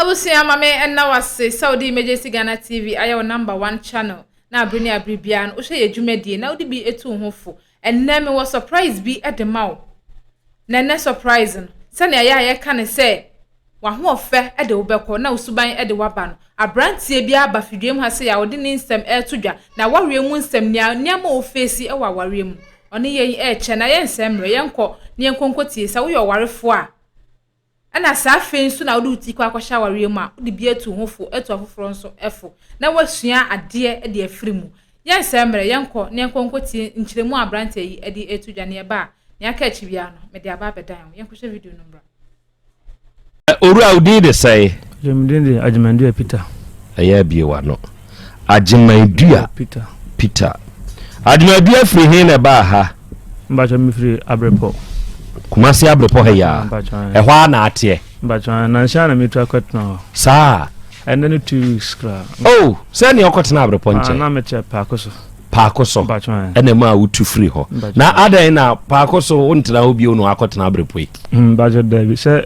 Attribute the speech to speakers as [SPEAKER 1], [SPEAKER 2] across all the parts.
[SPEAKER 1] Abusua ma me ɛna wase sɛ wode Emergency Ghana TV ayɛ wo number one channel na abere ne abere biara no wohwɛ yɛ dwumadie na wode bi etu ho fo. Ɛnɛ me wɔ surprise bi de ma wo. Na ɛnɛ surprise no sɛnea yɛ a yɛka ne sɛ wahoɔfɛ de wo bɛkɔ na osuban de waba no. Abranteɛ bi aba fidwam ha sɛ yɛ a ɔde ne nsɛm ɛreto dwa na awareɛ mu nsɛm nea nneɛma ofeesi wɔ awareɛ mu ɔne yɛn ɛrekyɛ na yɛnsɛ mmerɛ yɛnkɔ na yɛnkɔ nkɔtie sɛ woyɛ ɔwarefoɔ a Ɛna saa afei nso na wode wo ti kɔ akɔhyɛ awareɛ mu a, wode bi atu ho fo, atu afoforɔ nso fo, na woasua adeɛ de afiri mu. Yɛnsɛe mmerɛ, yɛnkɔ na yɛnkɔ nkɔtie nkyerɛmu a aberanteɛ yi de reto dwa, nea ɛba a, nea aka akyi biara no, mede aba abɛdan wo. Yɛnkɔhwɛ video no mmra.
[SPEAKER 2] Owura, wo din de sɛn? Gye, me din de Agyemang
[SPEAKER 3] Duah Peter. Ɛyɛ abue w'ano.
[SPEAKER 2] Agyemaadua Peter. Agyemaadua firi he na ɛbaa ha? Mpakyɛ mefiri
[SPEAKER 3] Abrepɔ. Kumasi
[SPEAKER 2] Abrepɔ ha yia. Ɛhɔ a na ateɛ. Mpakyɛ nanhyɛ
[SPEAKER 3] na metu akɔtena hɔ. Saa.
[SPEAKER 2] Ɛnɛ ne two
[SPEAKER 3] weeks koraa. Oh, sɛ nea
[SPEAKER 2] ɔkɔtena Abrepɔ nkyɛn. Na mekyɛ paako so.
[SPEAKER 3] Paako so.
[SPEAKER 2] Ɛna mu
[SPEAKER 3] a wotu firi
[SPEAKER 2] hɔ. Na adɛn na paako so wontena hɔ bio na wakɔtena Abrepɔ yi. Mpakyɛ dabi sɛ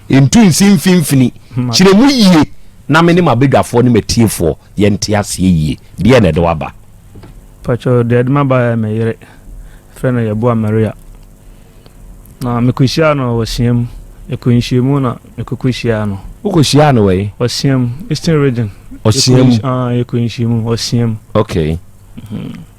[SPEAKER 2] Ntu nsi mfimfini. Kyerɛ mu yie na me ne m'abadwafoɔ ne m'atiefoɔ yɛnte aseɛ yie. Deɛn na ɛde wo aba? Mpakyɛ,
[SPEAKER 3] deɛ ɛde me aba yɛ me yere. Yɛfrɛ no Yeboah Maria. Na mekɔhyiaa no wɔ Ɔsia mu. Yɛkɔɔ nhyiamu na mekɔkɔhyiaa no. Wokɔhyiaa no wɔ he?
[SPEAKER 2] Ɔsia mu, Eastern
[SPEAKER 3] Region. Ɔsia mu?
[SPEAKER 2] Yɛkɔɔ nhyiamu
[SPEAKER 3] wɔ Ɔsia mu. Okay.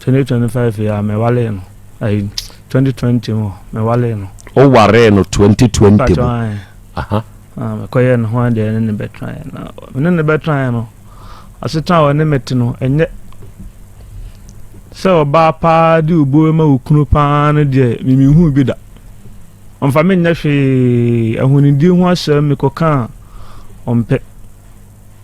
[SPEAKER 3] Twenty twenty five yi a mewale no ayi twenty twenty mu mewale no. O ware no twenty twenty mu.
[SPEAKER 2] Ah mekɔyɛ ne
[SPEAKER 3] ho adeɛ ne ne bɛtraeɛ na ne ne bɛtraeɛ no asetena a ɔne mete no ɛnyɛ sɛ ɔbaa paa de obuo ma wo kunu paa no deɛ memehu bi da ɔmfa me nyɛ hwee ahonidie ho asɛm mekɔka a ɔmpɛ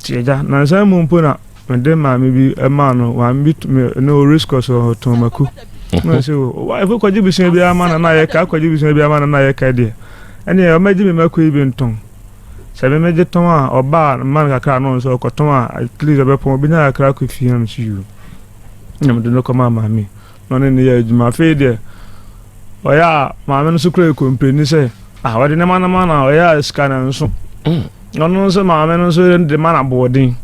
[SPEAKER 3] Nti agya, nansa mu mpo na mede maame bi maa no maame bi ne o race course wɔ tɔn mako na sɛ o wa ɛfo kɔgye bisua bi ama na na yɛ ka kɔgye bisua bi ama na na yɛ ka deɛ ɛne yɛ ɔmɛgye me mako yi bi ntɔn sɛ me mɛgye tɔn a ɔbaa mma no kakra no nso ɔkɔtɔn a at least ɔbɛpɔn obi nya kakra kɔ fie na no so yiwu na mede no kɔma maame na ɔne no yɛɛ adwuma. Afei deɛ, ɔyɛ a maame no nso kura kɔmpani sɛ, ah, ɔde ne ma no ma na ɔyɛ a sika no nso. Mm. Ɔno nso maame no nso de ma no aboɔden.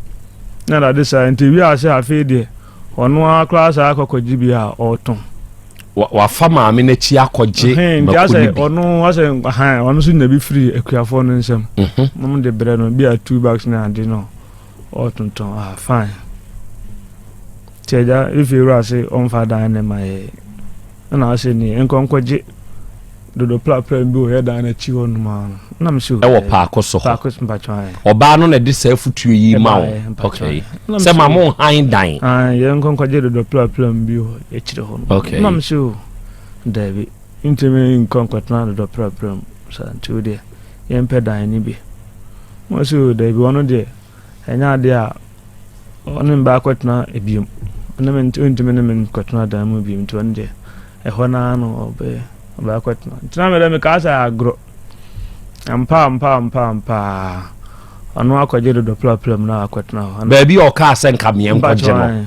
[SPEAKER 3] Na dade saa nti wi ase afei deɛ, ɔno ara koraa saa akɔkɔgye bi a ɔretɔn. Wafa
[SPEAKER 2] maame no akyi akɔgye mako no bi. Ɔno
[SPEAKER 3] asɛ ɔno nso nya bi firi akuafoɔ no nsam. Mom mhm. de brɛ no bi a two bags na ade no. Ɔ tontɔn a fine. Ti agya efi ewura se ɔnfa dan ne ma yɛ. Ɛna ɔse ni nkɔ nkɔgye dodo prapra bi wɔ yɛ dan n'akyi hɔ nom a. Ɛna me se o. Ɛwɔ paako so hɔ.
[SPEAKER 2] Paako so mpatwa ɛ.
[SPEAKER 3] Ɔbaa no na ɛde
[SPEAKER 2] saa afutuo yi ma wo. Okay. Sɛ ma mo han dan. Ae yɛ nkɔ nkɔgye
[SPEAKER 3] dodo prapra bi wɔ yɛ kyire hɔ nom. Okay. Ɛna me se o. Dabi. Ntumi nkɔ nkɔtena dodo prapra mu. Sa nti o deɛ. yɛmpɛ dan no bi. Wɔn sɛ o daabi ɔno deɛ ɛnyɛ adeɛ a ɔne me baakɔtena biom. Ɔne me ntumi ne me nkɔtena dan mu biom nti ɔno deɛ ɛhɔ no ara no ɔbɛ ɔbɛakɔtena. Nti na mede mekaa sɛ agorɔ. Ampa ampa ampa ampa ɔno
[SPEAKER 2] akɔgye dodɔ plapla
[SPEAKER 3] mu na
[SPEAKER 2] akɔtena
[SPEAKER 3] hɔ.
[SPEAKER 2] Baabi a ɔkaa sɛ
[SPEAKER 3] nka
[SPEAKER 2] meɛ nkɔgye
[SPEAKER 3] no.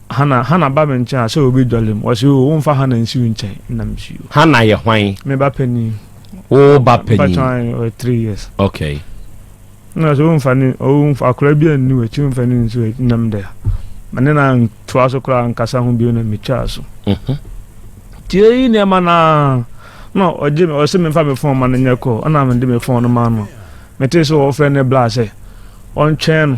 [SPEAKER 3] Hannah, Hannah ba me nkyɛn a sɛ obi dɔle m'. Ɔse oo, womfa Hannah nsi wo nkyɛn. Nna misi o. Hannah yɛ hwan? Me
[SPEAKER 2] ba panin.
[SPEAKER 3] Wo ba
[SPEAKER 2] panin? Mpakyɛ ɔyɛ
[SPEAKER 3] ɔyɛ three years.
[SPEAKER 2] Okay. Nna ɔse
[SPEAKER 3] womfa ne, womfa akora bi anni w'akyi, womfa ne nsi w'akyi. Nna mede a. Ma ne na ntoa so koraa nkasa ho bio na metwaa so. Mhm. Tiei nneɛma no ara. Nna ɔgye me, ɔse memfa me fon ma no nyɛ call. Nna mede me fon no maa no. Metee sɛ wɔfrɛ ne bla sɛ ɔntwɛn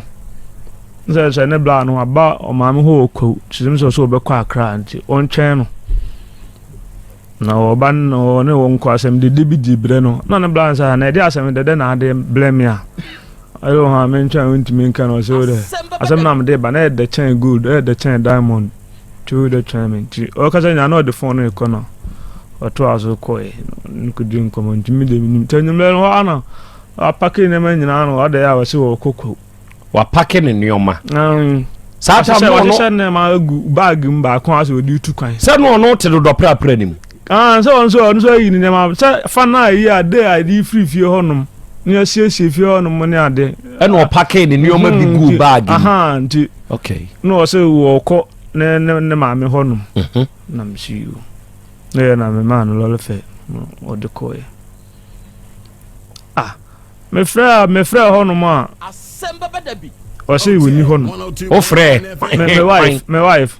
[SPEAKER 3] no sɛ sɛ ne bla no aba ɔmaame hɔ wɔ Kwawu, kyerɛ sɛ ɔsɛ ɔbɛkɔ Akra nti ɔntwɛn no. Na ɔba no na ɔne wɔn kɔ asɛm dede bi di brɛ no na ne bla no sɛ na ɛde asɛm dede na ade brɛ me a ɛyɛ hɔ a mentwɛn wontumi nka no ɔsɛ wo dɛ asɛm na mede ba na ɛdɛ kyɛn gold ɛdɛ kyɛn diamond. Twi dɛ twɛn me nti ɔkasa nyina na ɔde fon no rekɔ no ɔtoa so kɔe no kɔdi nkɔmmɔ ntumi de menim nti anwummerɛ no hɔ ana wapake nneɛma nyinaa no ɔde a wɔse wɔkɔ kɔ wapake ne
[SPEAKER 2] nneɛma saa tam no ɔno nneɛma agu
[SPEAKER 3] baage mu baako asɛ ɔde tu kwan sɛ no ɔno te dodɔ
[SPEAKER 2] prapra nim Aane, sɛ ɔno nso ɛ, ɔno
[SPEAKER 3] nso ayi ne nneɛma, sɛ fa no a ɛyi ade a ɛde firi fie hɔnom, ne asiesie fie hɔnom ne ade. Ɛna ɔpakee ne
[SPEAKER 2] nneɛma bi guu baage mu. Aha, nti,
[SPEAKER 3] okay. na ɔsɛ
[SPEAKER 2] wɔkɔ
[SPEAKER 3] ne, ne, ne maame hɔnom. Mhm. Na mesi o. Na yɛ na memaa no lɔre fɛ, ɔde kɔɛ. Ah, mefrɛ a, mefrɛ hɔnom a. Asɛm bɛbɛ da bi. Ɔsɛ wɔni hɔnom. Wofrɛ?
[SPEAKER 2] Me, me wife, me
[SPEAKER 3] wife.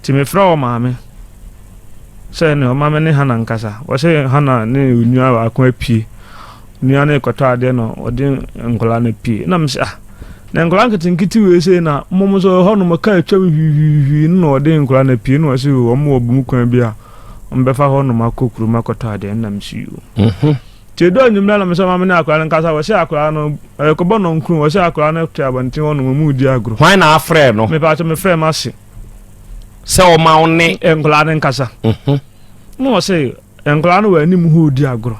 [SPEAKER 3] Nti mefrɛɛ wɔn maame sɛ ne ɔma me ne Hana nkasa. Wɔsɛ Hana ne onua baako apue. Nua no rekɔtɔ adeɛ na ɔde nkwadaa no apue. Na mesɛ ah, na nkwadaa nketenkete wei sei na mmom nso ɛhɔ nom kaa atwam hwiihwiihwii no na ɔde nkwadaa no apue na wɔsɛ wɔn wɔ bum kwan bi a wɔbɛfa hɔ nom akɔ kurom akɔtɔ adeɛ na mesɛ yoo. Mhm. Nti eduu anwumerɛ na mesoma menee akwadaa no nkasa, wɔhyɛɛ akwadaa no, ɛrekɔbɔ nnɔnkron, wɔhyɛɛ akwadaa no too abɔnten hɔ nom, wɔredi agorɔ. Hwan na afrɛɛ no?
[SPEAKER 2] Mepaakyɛ mefrɛɛ m'ase.
[SPEAKER 3] Sɛ
[SPEAKER 2] ɔma wo ne. Nkwadaa no nkasa.
[SPEAKER 3] Na ɔse, nkwadaa no wɔ anim hɔ redi agorɔ.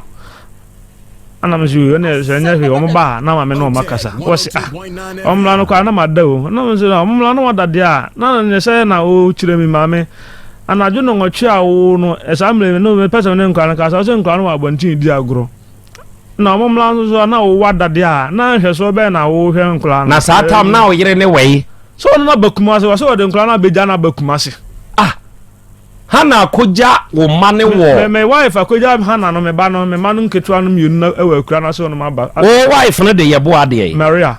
[SPEAKER 3] Ana me so, ɛne sɛ ɛnyɛ hwee, wɔn baa na maame ne wɔn akasa. Wɔse, ah, wɔn mmra no koraa na mada o. Na me so, wɔn mmra na wɔda deɛ a, na ne sɛ na ɔrekyerɛ me maame. Anadwo nnɔnwɔtwe a ɔwoo no, saa mmerɛ yi no, mepɛ sɛ me ne nkwadaa no kasa. Ɔsɛ nkwadaa no wɔ abɔnten redi agorɔ. Na wɔn mmla nso so a, na ɔwɔ ada deɛ a, na nhwɛsoɔ bɛn na wɔhwɛ nkwadaa no? Na saa tam na ɔyere
[SPEAKER 2] ne wɔ yi. Sɛ ɔno na ba Kumasi,
[SPEAKER 3] wɔsɛ wɔde nkwadaa no abɛgya na aba Kumasi. Ah,
[SPEAKER 2] Hana akɔgya wo mma no wɔ. Me me wife akɔgya
[SPEAKER 3] Hana no me ba no, me mma no nketewa no mmienu na ɛwɔ akura no ase wɔn aba. Wo wife no de
[SPEAKER 2] yɛ boa adeɛ yi. Maria.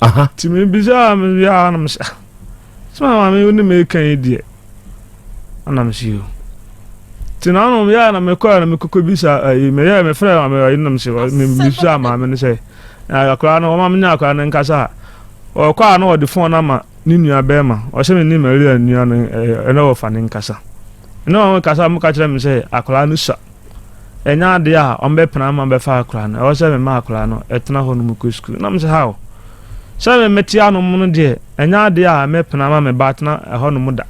[SPEAKER 3] aha nti mebisa a mewie a na mesɛ sɛ maame wo ne meka yi deɛ ana mesɛ yo nti na ano yɛ a na mekɔ a na mekɔkɔ bisa ayi meyɛ mefrɛ maame ayi na mesɛ mebisa maame no sɛ akwaraa no ɔma menya akwaraa no nkasa a ɔkɔ a na ɔde fon no ama ne nua bɛrima ɔhyɛ me ne maria nua no ɛna wɔfa ne nkasa ɛna wɔn nkasa mo ka kyerɛ me sɛ akwaraa no sa ɛnyɛ adeɛ a ɔmbɛpena ama bɛfa akora no ɛwɔ sɛ mema akora no ɛtena hɔ no mu kɔ sukuu na mesɛ how sɛ me mete anom no deɛ ɛnyɛ adeɛ a mɛpena ama me ba atena ɛhɔ no mu da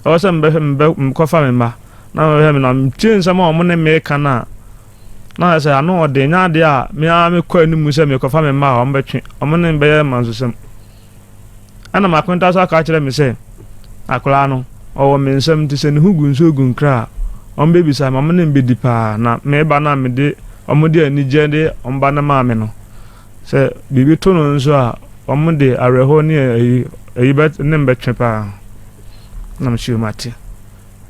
[SPEAKER 3] ɛwɔ sɛ mebɛhwɛ mekɔfa me mma na mebɛhwɛ me na metie nsɛm a ɔmo ne meka no a na sɛ ano ɔde ɛnyɛ adeɛ a me ara mekɔ anim sɛ mekɔfa me mma a ɔmbɛtwe ɔmo ne mbɛyɛ mansesɛm Ɛna m'akontaa nso aka akyerɛ me sɛ, Akwadaa no, ɔwɔ me nsam nti sɛ ne ho gu nsuo gu nkra a, ɔmbɛbisa ma me ne no bɛdi paa. Na me ba no a mede wɔde anigyeɛ de wɔn ba no maa me no, sɛ biribi to no nso a, wɔde awerɛhoɔ ne ayi ayi bɛ ne no bɛtwe paa. Na mehyɛɛ mu ate.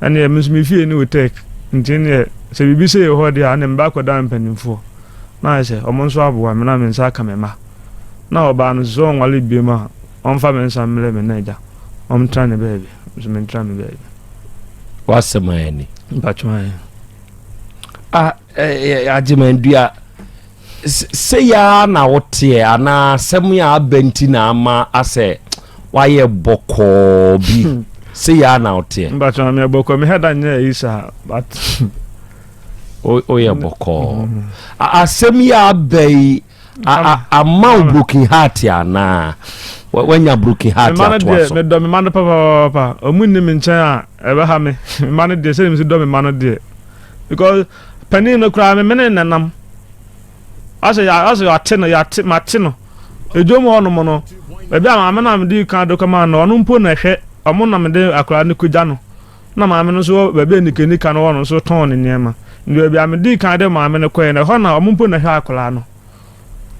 [SPEAKER 3] Ɛnneɛ me nso me fie ne Utech nti neɛ sɛ biribi sei hɔ deɛ a ɛnneɛ meba akɔda mpanimfoɔ na ayɛ sɛ wɔn nso aboa me na me nsa aka me mma na ɔbaa no nso sɛ ɔnwale biom a ɔmfa me nsa mmerɛ me na agya ɔmtra ne baabi nso mentra me baabi. W'asɛm
[SPEAKER 2] ayɛ ni. Mpatwa ayɛ.
[SPEAKER 3] Ah, eh,
[SPEAKER 2] eh, agyeman dua. Sei ara na woteɛ anaa asɛm a aba nti na ama asɛ wayɛ bɔkɔɔ bi hmm. sei ara na woteɛ mbatwe ma meyɛ bɔkɔɔ mehɛ
[SPEAKER 3] da nyɛ ayi saa but
[SPEAKER 2] woyɛ bɔkɔɔ hmm. asɛm yi a aba yi ama wo broken heart anaa wanya broken heart atoa so medɔ me ma no
[SPEAKER 3] papapapa ɔmu nni me nkyɛn a ɛbɛha me mema no deɛ sɛdeɛ mesi dɔ me ma no deɛ because Panin no koraa me mene no nam. Ɔsɛ ɔsɛ ɔte no yɛate mate no. Edwom hɔ nom no baabi a maame no a mede kan de kɔma no ɔno mpo na ɛhwɛ ɔmo na mede akwadaa no kɔgya no. Na maame no nso baabi a nikanika no wɔ no nso tɔn ne nneɛma. Nti baabi a mede kan de maame no kɔɛ no ɛhɔ na ɔmo mpo na ɛhwɛ akwadaa no.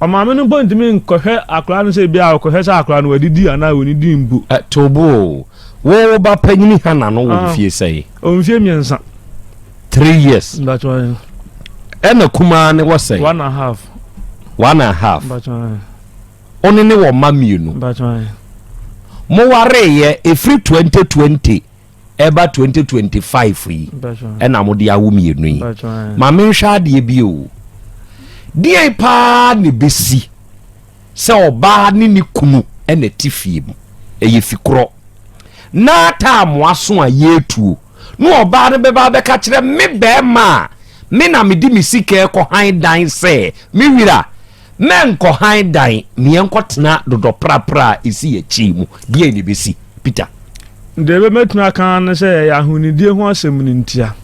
[SPEAKER 3] Ɔmaame no mpo ntumi nkɔhwɛ akwadaa no sɛ ebia ɔkɔhwɛ sɛ akwadaa no wadidi anaa ɔnnidii mpo. To bo
[SPEAKER 2] o! Wo ba panyin Hannah no wɔ mfie sɛn? Ɔwɔ mfie mmiɛnsa.
[SPEAKER 3] Three
[SPEAKER 2] years. Mpatsɔ ae.
[SPEAKER 3] Ɛna
[SPEAKER 2] kumaa no wɔ sɛn? One and half.
[SPEAKER 3] One and half. Mpatsɔ ae. Wo ne ne
[SPEAKER 2] wɔ mma mmienu. Mpatsɔ ae. Mowareeɛ ɛfiri 2020 ɛba twenty twenty five yi ɛna mo de awo mmienu yi maame nhwɛ adeɛ bi o deɛ paa na ebesi sɛ ɔbaa ne ne kunu ɛna ɛte fie mu ɛyɛ fi korɔ na taa mo aso a yɛretuo na ɔbaa no bɛba abɛka kyerɛ me bɛrima a me na mede me sika ɛkɔ han dan sɛ me wira. Mɛnkɔ hann dan, meɛnkɔtena dodɔ prapra a ɛsi akyiri mu. Deɛn na ɛbɛsi? Peter. Deɛ ɛbɛmɛtumi
[SPEAKER 3] aka ara ne sɛ ɛyɛ ahonidie ho asɛm no ntia.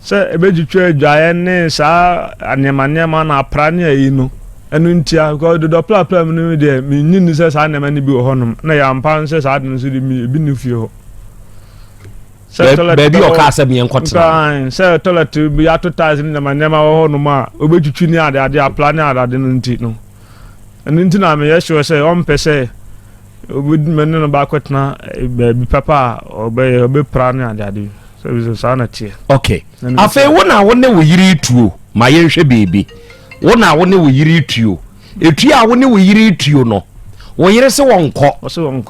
[SPEAKER 3] Sɛ ɛbɛtwitwa adwaeɛ ne saa nneɛma nneɛma no apra ne ayi no, ɛno ntia. Because dodɔ prapra mu no deɛ menyi nni sɛ saa nneɛma no bi wɔ hɔnom. Na ɛyɛ ampa ara sɛ saa ade no nso de ebi nni fie hɔ.
[SPEAKER 2] baabi a ɔkaa sɛ meɛ nkɔtena sɛ toilet bi
[SPEAKER 3] ato tiles ne nneɛma nneɛma wɔ hɔ nom a obɛtwitwi ne ade ade apla ne adade no nti no ɛno nti na meyɛ sure sɛ ɔmpɛ sɛ obɛdima ne no baakɔtena eh, baabi papa a ɔbɛyɛ ɔbɛpra ne ade ade sɛ saa na teɛ
[SPEAKER 2] okay afei wo na wo ne wo yere tuo ma yɛnhwɛ biribi wo na wo ne wo yere tuo Etua a wo ne wo yere retuo no, wo yere se wɔnkɔ,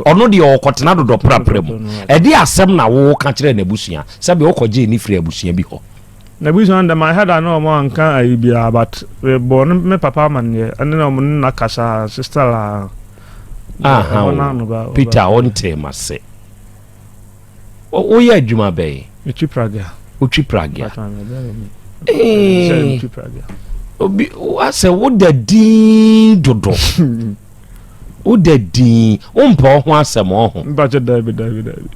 [SPEAKER 2] ɔno deɛ ɔkɔtena dodɔprapra mu. Ɛde asɛm na woka kyerɛ n'abusua, sɛbe wokɔgyee no firi abusua bi hɔ. N'abusua no deɛ
[SPEAKER 3] my head ano wɔn anka ayi biara but mebɔɔ ne me papa amanneɛ ɛne na wɔn ne na kasa sister laa. Aha o,
[SPEAKER 2] Peter ɔntee m'ase. Woyɛ adwuma bɛn? Metwi pragea.
[SPEAKER 3] Wotwi pragea. Ee.
[SPEAKER 2] Obi asɛ woda din dodo. Woda din. Wompɛ ɔho asɛm ɔho. Mpakyɛ daabi daabi
[SPEAKER 3] daabi.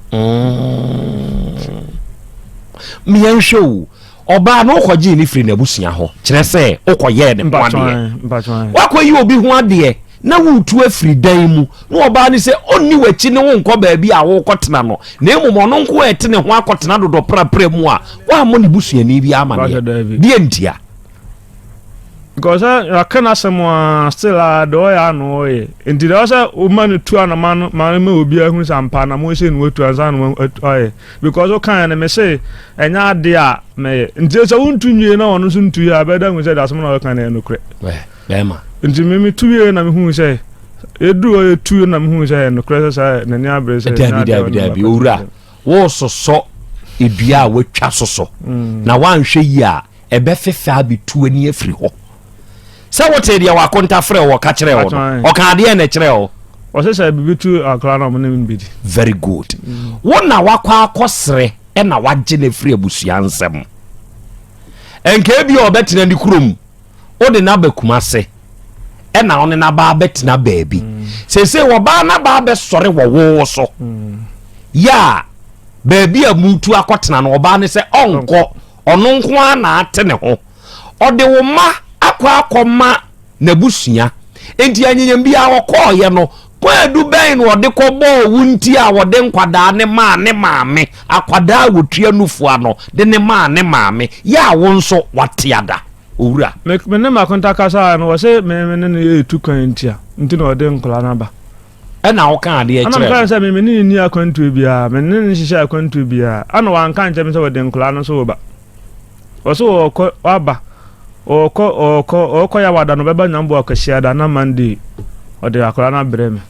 [SPEAKER 2] Mmea mm. nhwɛ o. Ɔbaa no wokɔgyee ne firi n'abusua hɔ. Kyerɛ sɛ wokɔyɛɛ ne ho adeɛ. Wakɔyi obi ho adeɛ. na woretu afiri dan mu, na ɔbaa no sɛ ɔnni w'akyi ne wo nkɔ baabi a worekɔtena no, na mmom ɔno nko a ɛte ne ho akɔtena dodɔprapra mu a, woammɔ ne busuani bi amaneɛ. Deɛ ntia?
[SPEAKER 3] Because eh, yɛaka no asɛm a still a ah, deɛ ɔyɛ a na ɔyɛ nti deɛ ɔsɛ woma no tu anama no ma ma obiara hunu sɛ ampa anama ɔsɛ no watu ansa na ɔyɛ because wokaeɛ no mese ɛnyɛ adeɛ a mɛyɛ nti sɛ wontu nwie na ɔno nso ntu yɛ a bɛda hu sɛ deɛ asɛm na ɔyɛka no yɛ nokorɛ bɛrima. Enti
[SPEAKER 2] me me tuiɛ
[SPEAKER 3] na me hui sɛ yɛduru hɔ yɛ tuiɛ na me hui sɛ nokorɛ sɛ saa n'ani abere sɛ daabi daabi daabi owura
[SPEAKER 2] wɔresosɔ edua a wɔatwa so so mm. na wɔanhwɛ yi a ɛbɛfefɛ abɛtu ani afiri hɔ sɛ wote deɛ wakonta frɛ wɔ ka kyerɛ wɔ no ɔka adeɛ na ɛkyerɛ hɔ ɔsɛ sɛ biribi tu
[SPEAKER 3] akora na ɔmo ne no bɛdi very good mm.
[SPEAKER 2] wo na wakɔ akɔserɛ ɛna wagye no afiri abusua nsɛm ɛnka bi a ɔbɛtena ne kurom wo ne no aba Kumase ɛna wo ne no aba abɛtena baabi sese wɔbaa no aba abɛsɔre wɔ wo so yɛ a baabi a mutu akɔtena no ɔbaa ne sɛ ɔnkɔ ɔno nko ara na ate ne ho ɔde wo ma akɔ akɔma n'abusua nti anyanyam biara ɔkɔɔyɛ no Kwaadu bɛn na ɔde kɔbɔɔ wo nti a ɔde nkwadaa no maa ne maame, akwadaa a wɔtua nufua no de no maa ne maame, yɛ a wo nso woatea da, Owura? Me me ne m'akonta
[SPEAKER 3] kasaeɛ no, ɔse me me ne no yɛ tu kwan ntia nti na ɔde nkwadaa no aba. Ɛna
[SPEAKER 2] woka adeɛ Ɛna kyerɛɛ mekaa no? sɛ me me ne no nni
[SPEAKER 3] akwantuo biara, me ne no nhyehyɛɛ akwantuo biara, ɛna wanka ankyerɛ me sɛ ɔde nkwadaa no nso reba. Wɔse wɔɔkɔ waba wɔɔkɔ wɔɔkɔ wɔɔkɔ yawada no ɔbɛba nyambo akwasiada na Monday ɔde akwadaa no abrɛ me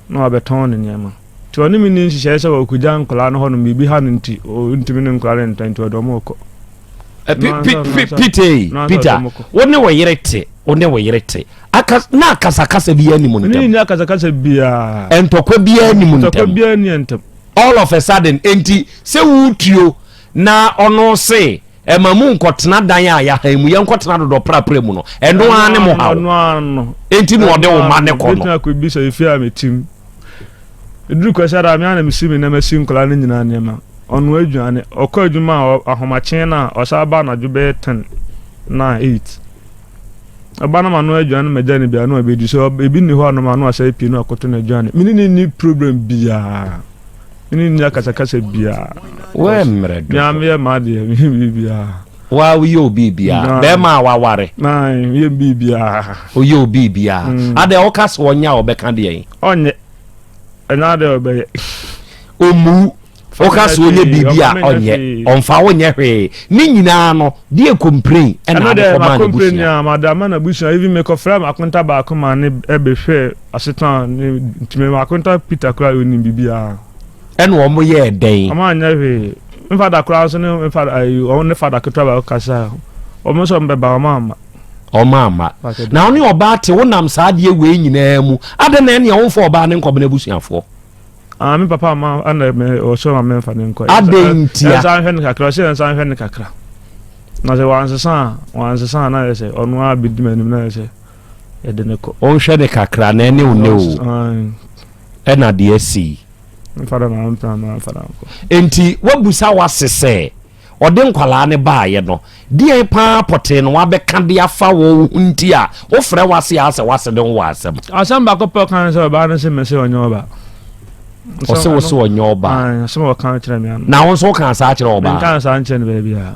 [SPEAKER 3] na wabɛtɔn ne nneɛma nti ɔne me ni nhyehyɛe sɛ wɔkɔgya nkwadaa no hɔnom biribi ha no nti ɔntumi ne nkwadaa no ntɔ nti ɔde ɔmo kɔ Peter
[SPEAKER 2] wo ne wo yere te wo ne wo yere te na akasakasa biara ni mu ntɛm ne ni akasakasa biara
[SPEAKER 3] ntɔkwa biara ni
[SPEAKER 2] mu ntɛm ntɔkwa biara ni ntɛm
[SPEAKER 3] all of a sudden
[SPEAKER 2] enti sɛ wotuo Na ɔno se, Ɛma mu nkɔtena dan a yahan mu, yɛnkɔtena dodɔ prapra mu no, ɛno ara ne mo haw. Enti
[SPEAKER 3] na ɔde wo mma
[SPEAKER 2] no kɔ no.
[SPEAKER 3] Ɛduru Kwasiada a, me ara na mesi me nneɛma si nkwadaa no nyinaa nneɛma. Ɔnoa aduane, ɔkɔ adwuma a, ahomakye no a, ɔsan ba anadwo bɛyɛ ten, nine, eight. Ɔba na manoa aduane magya no bi a, na wabɛdi. Sɛ ebi nni hɔ a, na manoa sɛ pii na wakoto no aduane. Me ne no nni problem biara. me ne nni akasakasa biara wɔ mmerɛ
[SPEAKER 2] do mea meyɛ m'adeɛ
[SPEAKER 3] meyɛ biribiara wa woyɛ
[SPEAKER 2] obi biara bɛrima a waware yɛ
[SPEAKER 3] biribiara woyɛ obi
[SPEAKER 2] biara mm. adɛ woka sɛ ɔnyɛ a ɔbɛka deɛ ɔnyɛ
[SPEAKER 3] ɛna adɛ ɔbɛyɛ ɔmu
[SPEAKER 2] woka sɛ ɔnyɛ biribi a ɔnyɛ ɔmfa wonyɛ hwee ne nyinaa no deɛ complain ɛna ade kɔma ne
[SPEAKER 3] busua madama na busua even mekɔfrɛ makonta baako ma ne ɛbɛhwɛ Asetan ne ntumi ma akonta Peter koraa onim biribiara. Ɛna ɔmo
[SPEAKER 2] yɛɛ dɛn? Ɔmo anyɛ hwee.
[SPEAKER 3] Me fada koraa nso ne me fada ayi ɔmo ne fada ketewa baako kasae. Ɔmo nso ɔmo bɛba ɔmo amma. Ɔmo amma. Na wo ne ɔbaa
[SPEAKER 2] te wo nam saa adeɛ wei nyinaa mu. Adɛn na ɛnea womfa ɔbaa no nkɔbena abusuafoɔ? Ah me papa
[SPEAKER 3] ama ɛna me ɔsɛ ma me nfa ne nkɔ. Adɛn ntia? Yɛn nsa nhwɛ
[SPEAKER 2] ne kakra ɔsɛ
[SPEAKER 3] yɛn nsa nhwɛ ne kakra. Na sɛ wansesa a wansesa a na yɛ sɛ ɔno ara bedi m'anim na yɛ sɛ Yɛde no kɔ. Wonhwɛ ne kakra
[SPEAKER 2] na ɛne wo nɛ o. Ɛna deɛ asi.
[SPEAKER 3] Nti wabusa
[SPEAKER 2] wase sɛ ɔde nkwalaa ne baayɛ no deɛ paa pɔtee no wabɛka de afa wɔ wo ho nti a wofrɛ wase a sɛ wase de ho wɔ asɛm. Asɛm baako pɛ kan
[SPEAKER 3] sɛ ɔbaa no se mɛ sɛ ɔnyɛ ɔbaa. Ɔsɛ
[SPEAKER 2] wo sɛ ɔnyɛ ɔbaa. Asɛm ɔka kyerɛ me ano.
[SPEAKER 3] Na wo nso woka saa kyerɛ
[SPEAKER 2] ɔbaa. Nka saa nkyerɛ no baabi a.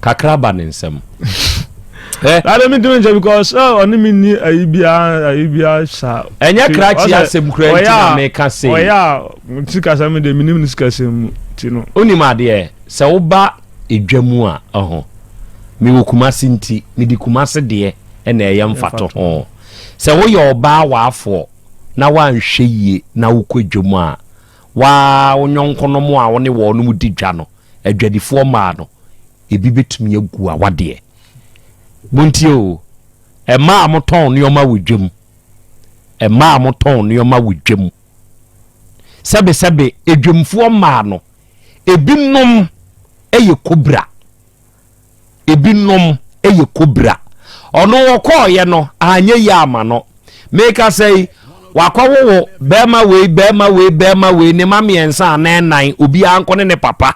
[SPEAKER 3] kakra
[SPEAKER 2] ba ne nsam.
[SPEAKER 3] Eh? That don't mean to mention because oh, ɔne mi ni ayi biara ayi biara sa. Ɛnyɛ krakye asɛm
[SPEAKER 2] kura nti na meka se. Ɔyɛ a sika
[SPEAKER 3] sɛm deɛ mi nim ne sika sɛm mu ti no. Onim adeɛ
[SPEAKER 2] sɛ woba edwa mu a ɛho mi wɔ kumase nti mi di kumase deɛ ɛna ɛyɛ mfato ho sɛ woyɛ ɔbaa w'afoɔ na wanhwɛ yie na wokɔ edwa mu a wo ara wo yɔnkonom a wo ne wɔnom di dwa no, adwadifoɔ mmaa no, ebi bɛtumi agu awadeɛ. Montie o, mmaa a motɔn nneɛma wɔ dwam, mmaa a motɔn nneɛma wɔ dwam, sɛbesɛbe adwamfoɔ mmaa no, ebinom yɛ kobra. ebinom yɛ kobra. Ɔno wɔkɔɔeɛ no anyɛ yie ama no. Mekasa yi wakɔwowo bɛrima wei bɛrima wei bɛrima wei ne ma mmiɛnsa anaa nnan obiara nkɔ ne ne papa.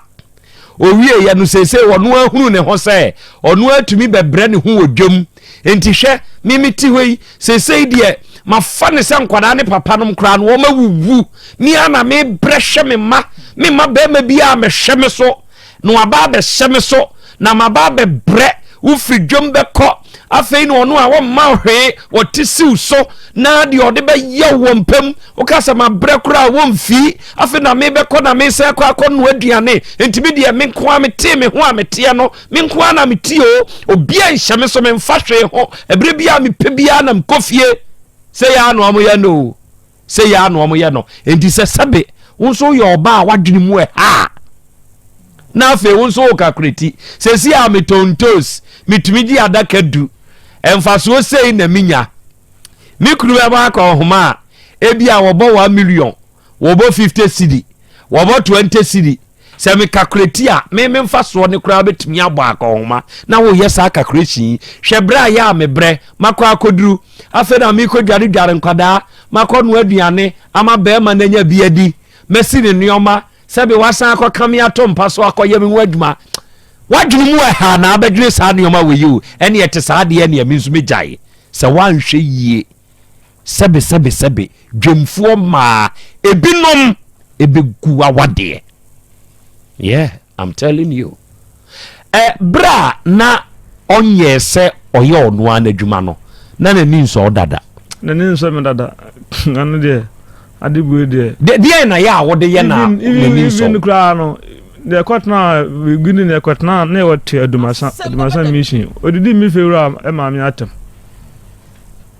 [SPEAKER 2] Owieɛ no seesei ɔno ahunu ne ho sɛ ɔno atumi bɛbrɛ ne ho wɔ dwam. Nti hwɛ me mete hɔ yi seesei deɛ mafa ne sɛ nkwadaa ne papa nom koraa no wɔn awuwu. Mia na mebrɛ hwɛ me ma me ma bɛrima biara mɛhwɛ me so na waba abɛhyɛ me so na maba abɛbrɛ wofiri dwom bɛkɔ afei na ɔno a wɔmma hwee wɔte siw so na deɛ ɔde bɛyɛ wɔ mpam woka sɛ mabrɛ koraa wɔmfii afei na mebɛkɔ na mesɛ kɔ akɔ no aduane ntumi deɛ me nko a metee me ho a meteɛ no me nko a na metie o obia nhyɛ me so memfa hwee ho ɛberɛ bi a mepɛ biara na mekɔ fie sɛ yɛa no ɔmo yɛ no o Sɛ yɛ ara na wɔyɛ no. Enti sɛ sɛbe wo nso woyɛ ɔbaa a w'adwene mu ɛha a, na afei wo nso woka koreti. Sɛsi a metontos, metumi gye adaka du. Mfasoɔ sei na menya. Me kunu bɛbɔ akɔ nhoma a, ebi a wɔbɔ 1 million, wɔbɔ 50 cedi, wɔbɔ 20 cedi, Sɛ me kakrati a, me me mfasoɔ no koraa bɛtumi abɔ akɔnhoma na woyɛ saa kakration yi. Hwɛ berɛ a yɛ a me brɛ, makɔ akɔduru. Afei na mekɔ dware dware nkwadaa, makɔ noa aduane ama barima no anya bi adi, masi ne nneɛma, sɛbe wasan akɔ ka me ato mpa so akɔyɛ me ho adwuma. W'adwene mu ɛha na abɛdwene saa nneɛma wei o, ɛne ɛte saa deɛ ɛne me nso mɛgyae. Sɛ woanhwɛ yie Sɛbe sɛbe sɛbe dwamfoɔ mmaa ebinom ɛbɛgu awadeɛ yeah I'm telling you ɛ berɛ a na ɔnyɛɛ sɛ ɔyɛ ɔno ara n'adwuma no na n'ani nsɔ wo dada n'ani nsɔ me
[SPEAKER 3] dada ano deɛ ade bue deɛ deɛ na yɛ a
[SPEAKER 2] wode yɛ na n'ani nsɔ even koraa no
[SPEAKER 3] deɛ ɛkɔtena gini na ɛkɔtena na ɛwɔ te adumasa adumasa mission odidi mi fewura ɛma mi atam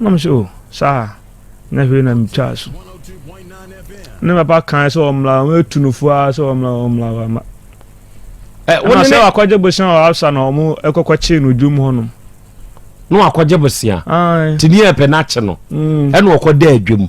[SPEAKER 3] Na mo sɛ o saa na hwee na me twaa so. Ne papa kan sɛ ɔmmla ɔmo etu no fua sɛ ɔmmla ɔmmla hɔ ama. Ɛ wɔn sɛ wakɔgye bosia wɔ Afsa na ɔmo ɛkɔkɔ kye no dwom hɔ nom. Na
[SPEAKER 2] wakɔgye bosia. Ti ni ɛpɛ n'akye no. Ɛna ɔkɔ dɛ dwom.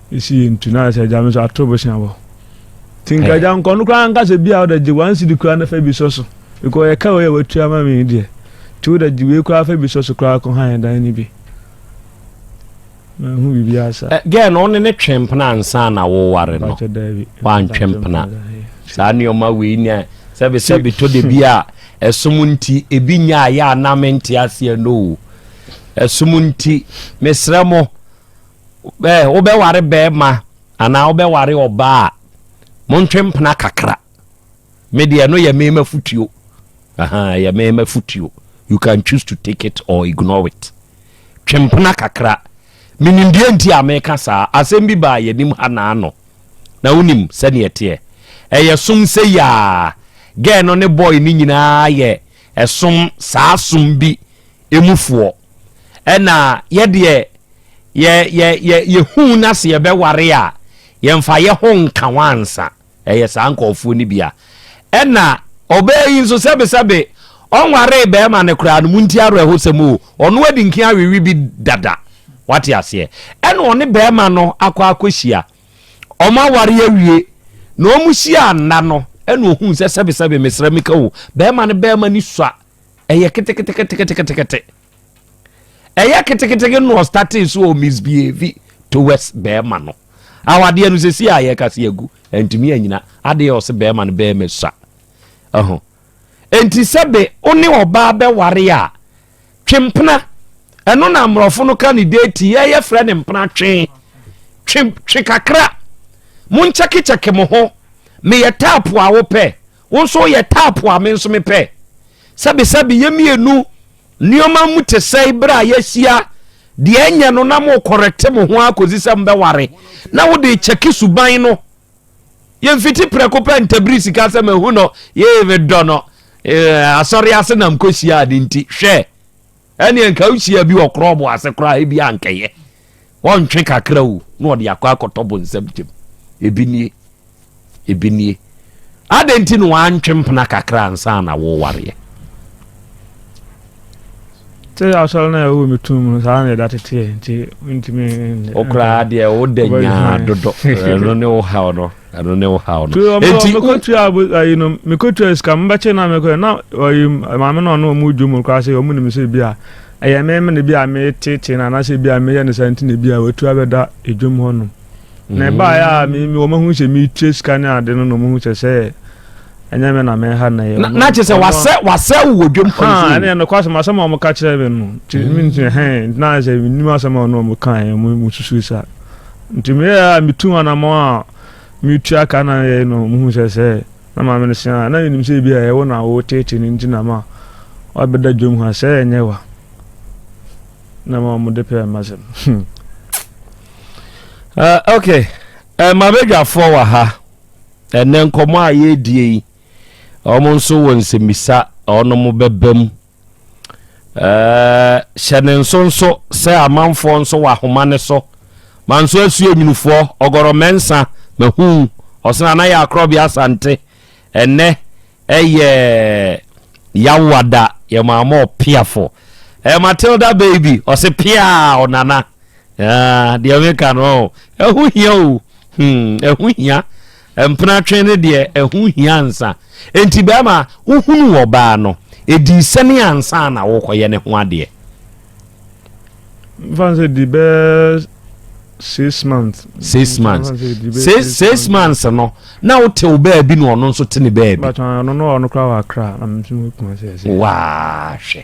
[SPEAKER 3] Esi yɛ ntu na sɛ agya me nso ato bosea wɔ. Ti nka agya nkɔ no koraa nka sɛ bi a ɔda gye wɔn si di koraa na fa bi sɔ so. Because yɛ ka wei a watua ma me deɛ. Ti wo da gye wei koraa fa bi sɔ so koraa kɔ han dan ni bi. Na ho bibi asa. Eh, gɛɛ no ɔne ne twɛn
[SPEAKER 2] pena ansa na woware no. Wantwɛn pena. Saa nneɛma wei ni a sɛbi sɛbi to de bi a ɛsom nti ebi nya ayɛ a na mente aseɛ no o. Ɛsom nti mesrɛ mo. Ɛɛ, wobɛware barima anaa wobɛware ɔbaa a, montwe mpena kakra. Me deɛ ɛno yɛ me m'afotuo. Ahaa, yɛ me m'afotuo. You can choose to take it or ignore it. Twe mpena kakra. Menim deɛ nti a meka saa. Asɛm bi baa yɛnim ha naano. Na wonim sɛdeɛ ɛteɛ. Ɛyɛ som sɛ yaa. Gɛɛ no ne bɔɔl no nyinaa yɛ ɛsom saa som bi mu foɔ. Ɛna yɛdeɛ yɛ yɛ yɛ yɛhuu na se yɛbɛware a yɛnfa yɛho nka ho ansa. Ɛyɛ saa nkɔɔfoɔ no bi a. Ɛna ɔbaa yi nso sɛbesɛbe ɔnwaree bɛɛma no koraa no montie awerɛhosɛm o, ɔno adi nken awewe bi dada. Wate aseɛ? Ɛna ɔne bɛɛma no akɔ akɔhyia. Ɔmo aware awie. Na ɔmo hyia nna no ɛna ɔhuu sɛ sɛbesɛbe mesrɛ meka o, bɛɛma no bɛɛma no sua ɛyɛ keteketeketeketekete ɛyɛ keteketeke na ɔstate so ɔ misbehave towards bɛrima no awadeɛ no sɛsi a yɛka se agu ɛntumi anyina adeɛ ɔse bɛrima no bɛrima sua ɛho ɛnti sɛ be wo ne ɔbaa bɛware a twempena ɛno na mmorɔfo no ka ne deti yɛyɛ frɛ ne mpena twe twe twe kakra monkyɛkekyɛke mo ho meyɛ taapo a wopɛ Wo nso woyɛ type a me nso mepɛ. Sɛbesɛbe yɛ mmienu nneɛma mu te sɛe berɛ a yɛahyia deɛ ɛnyɛ no na morekɔrɛte mo ho ara kɔsi sɛ mobɛware na wode kyɛke suban no. Yɛmfiti prɛko pɛ ntabiri sika sɛ mahu no, yee medɔ no, eh, asɔre ase na mekɔhyiaa ne nti. Hwɛ! Ɛneɛ nka wohyia bi wɔ krɔbo ase koraa ebi ankɛyɛ ɔntwe kakra o na ɔde akɔ akɔtɔ bonsam gyam ebi nie ebi nie adɛn nti na wantwe mpena kakra ansa na wowareɛ
[SPEAKER 3] sɛ asɔre no a ɛwɔ me tum no saa na ɛda teteɛ nti mentumi wokoraa deɛ
[SPEAKER 2] woda nyaa dodo ɛno ne wo haw no Ɛno ne wo haw no. Enti wo. Mekotua abo
[SPEAKER 3] ayi no mekotua sika mo bɛkye na mekɔ na ɔyi maame na ɔne wɔn redwo mu koraa sɛ wɔn nim sɛ ebi a ɛyɛ me me na ebi a metetee na anaasɛ ebi a meyɛ ne saa nti na ebi a watu abɛda edwom hɔ nom. Na ɛbaeɛ a me me wɔn ahu sɛ metua sika ne ade no na wɔn ahu sɛ sɛ ɛnyɛ me na meha na ɛyɛ wɔn. Na kyerɛ sɛ wasɛ
[SPEAKER 2] wasɛ wo wɔ dwom kwan so. Ha ɛne ɛno kɔ asɛm asɛm
[SPEAKER 3] a wɔn ka kyerɛ me no nti me nti hɛn na sɛ menim asɛm a ɔne wɔn ka wɔn susu saa. Nti meyɛɛ a metuu anamɔn a meretua ka na yɛe no muhu sɛ sɛ na maame no sua a na yɛnim sɛ ebi a ɛwo na woteetee no nti na ma wabɛda dwam ha sɛ ɛnyɛ wa na ma wɔde pɛɛ masɛm hmm. uh,
[SPEAKER 2] ok uh, mabɛdwafoɔ wɔ ha ɛnɛ nkɔmmɔ a yɛredie yi wɔn nso wɔ nsɛmmisa a wɔn bɛba mu Hyɛ no nso nso sɛ amanfoɔ nso wɔ ahoma no so ma nso asua nwunufoɔ ɔgɔrɔ mɛnsa ma huu ɔsena na yɛ akorɔ bi asante ɛnɛ ɛyɛ yawada yɛ maa mɔ piafo ɛ matilda baby ɔse piaa ɔnana deɛ meka no ɛho hia o ɛho hia Mpenatwe ne deɛ ɛho hia ansa. Enti bɛɛma wohunuu ɔbaa no, edii sɛne ansa na wokɔyɛ ne ho adeɛ. Mfa
[SPEAKER 3] no sɛ ɛdi bɛɛ six
[SPEAKER 2] months. Six months. Six six months no na wote wo baabi na ɔno nso te ne baabi. Bàtà ɔno no ɔno kora
[SPEAKER 3] wɔ akra na mo nso mo kuma sɛ ɛsɛ. Waa hwɛ.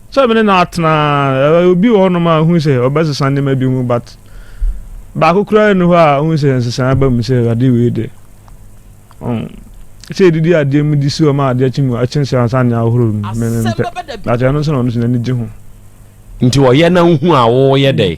[SPEAKER 3] Sɛ me ne no atena a, obi wɔ hɔnom a ohun sɛ ɔbɛsesa nneɛma bi mu but baako koraa nni hɔ a ohun sɛ nsesae aba mu sɛ ade wei de. Um, sɛ edidi adeɛ mu de si hɔ ma adeɛ kye mu akye sɛ ansa ne ahorow mu, me mempɛ. But ɛno nso na ɔno nso n'ani gye ho. Nti ɔyɛ
[SPEAKER 2] na nhu a woyɛ dɛ?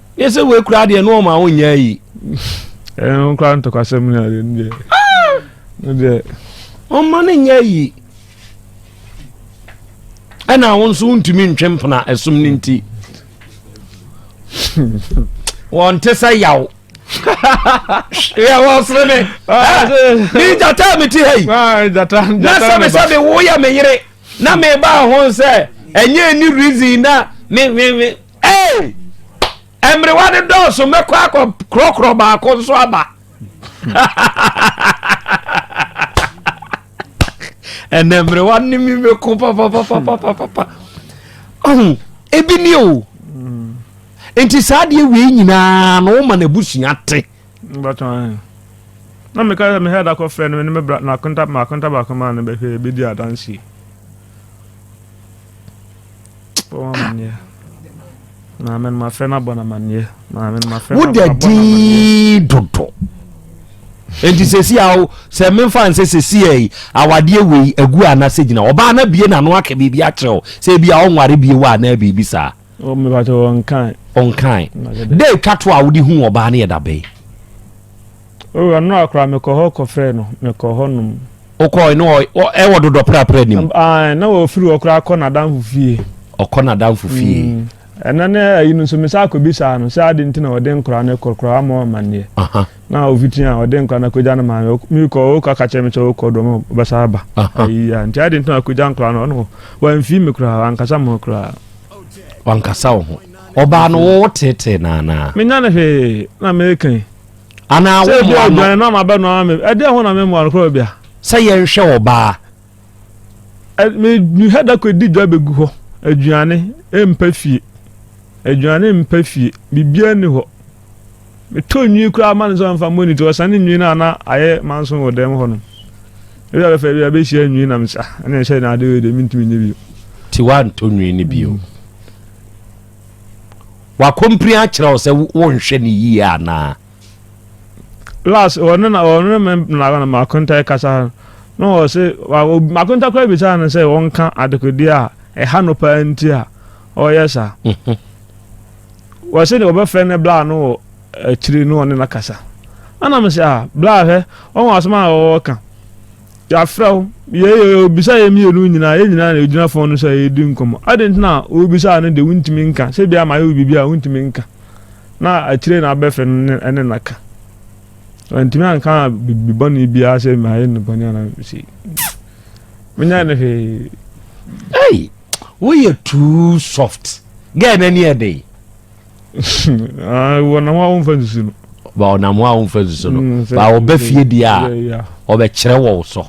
[SPEAKER 2] ne sɛ wei koraa deɛ ne ɔma wonyɛ yi ɛno
[SPEAKER 3] koraa ntɔkwasɛm no adeɛ no deɛ no deɛ ɔma
[SPEAKER 2] no nyɛ yi ɛna wo nso wontumi ntwe mpena ɛsom no nti wɔnte sɛ yaw yɛ wɔ sere me ah, ne gyata mete ha yi ah, na
[SPEAKER 3] sɛ me sɛ
[SPEAKER 2] mewoyɛ me yere na mebaa ho sɛ ɛnyɛ ni reason na me ee mmerewa no dɔɔso mɛkɔ akɔ korɔkorɔ baako nso aba ɛnɛ mmerewa ne mi bɛko papapapapapa ɔho ebi ni o nti saa deɛ wei nyinaa na woma no abusua te
[SPEAKER 3] na meka sɛ mehɛ da kɔfrɛ no ne makonta baako maa no bɛhwɛ bɛdi adanseɛ wodɛ din
[SPEAKER 2] dodo nti sɛsi a wo sɛ memfa nsɛ sɛsi ai awadeɛ wei agu anasɛ gyina ɔbaa no abie nano aka biribi akyerɛ wo sɛ ebi a ɔnware bie wɔ anaa biribi saa
[SPEAKER 3] ɔnkan dɛ twa to a
[SPEAKER 2] wode hu ɔbaa no yɛ dabɛn
[SPEAKER 3] Oh, ɛno a koraa mekɔ hɔ kɔfrɛɛ no, mekɔ hɔ nom. Wokɔɔe no
[SPEAKER 2] ɛwɔ dodɔ prapra nim? Ae, na ɔfiri hɔ
[SPEAKER 3] koraa kɔ n'adamfo fie. Ɔkɔ n'adamfo
[SPEAKER 2] fie. Mm. Ɛnɛ ne ayi
[SPEAKER 3] no nso mesan akɔbisaa no sɛ ade nti na ɔde nkora no kɔ koraa ama ɔmanneɛ. Na ɔfiti a ɔde nkora no akɔgya no maame mekɔ ɔkɔ aka kyerɛ me sɛ ɔkɔ dɔm ɔbɛsa aba. Ayi a nti ade nti na akɔgya nkora no ɔno wamfii me koraa wankasa me ho koraa. Wankasa
[SPEAKER 2] wo ho. Ɔbaa no wo tetee naanaa. Menya no hwee
[SPEAKER 3] na meka yi. Anaa Sɛ ebia
[SPEAKER 2] wommoa no. odwan na m'abɛnoa
[SPEAKER 3] me. Ɛdeɛn ho na memmoa no koraa bia? Sɛ yɛnhwɛ
[SPEAKER 2] ɔbaa. Ɛ, me,
[SPEAKER 3] mehwɛ da kɔdi dwa bɛgu hɔ. Aduane mpa fie. Aduane mpa fie. Biribiara nni hɔ. Metɔ nwi koraa ma no sɛ ɔmfa mmɔ ne ti. Ɔsane nwi no a na ayɛ manso wɔ dan mu hɔnom. Ebi a bɛfa bi a bɛhyia nwi na mesa. Ɛna ɛhyɛ na ade wei deɛ mentumi nyɛ bio. Nti woantɔ
[SPEAKER 2] nwi no bio? Mm. Wakompiri akyerɛ wo sɛ wonhwɛ no yie anaa?
[SPEAKER 3] Last ɔno na ɔno me na makonta kasa ha na ɔse makonta koraa bisaa no sɛ ɔnka adekodeɛ a ɛha no paa nti a ɔyɛ saa. Mhm. Wɔse ne ɔbɛfrɛ ne bla no wɔ akyiri no ɔne no kasa. Ana me sɛ a ah, bla hwɛ ɔho asɛm a ɔwɔ ka. Yɛafrɛ wo. Yei yɛ obisa yɛn mmienu nyinaa, yɛn nyinaa na yɛgyina fon no so a yɛredi nkɔmmɔ. Adɛn nti na wobisaa no deɛ wontumi nka? Sɛ bia mayɛ wo biribi a wontumi nka. Na akyire na abɛfrɛ no ne, ne na ka. Wantumi anka biribi bɔne biara sɛ mayɛ no bɔne anaa sei. Menyɛ no hwee. Hey,
[SPEAKER 2] woyɛ too soft. Gɛɛ n'ani ɛdɛn. Ah,
[SPEAKER 3] wɔnam a wɔmfa nsusu no. Ba ɔnam a wɔmfa
[SPEAKER 2] nsusu no. Mm, ba ɔba fie di a ɔbɛkyerɛ wɔ so.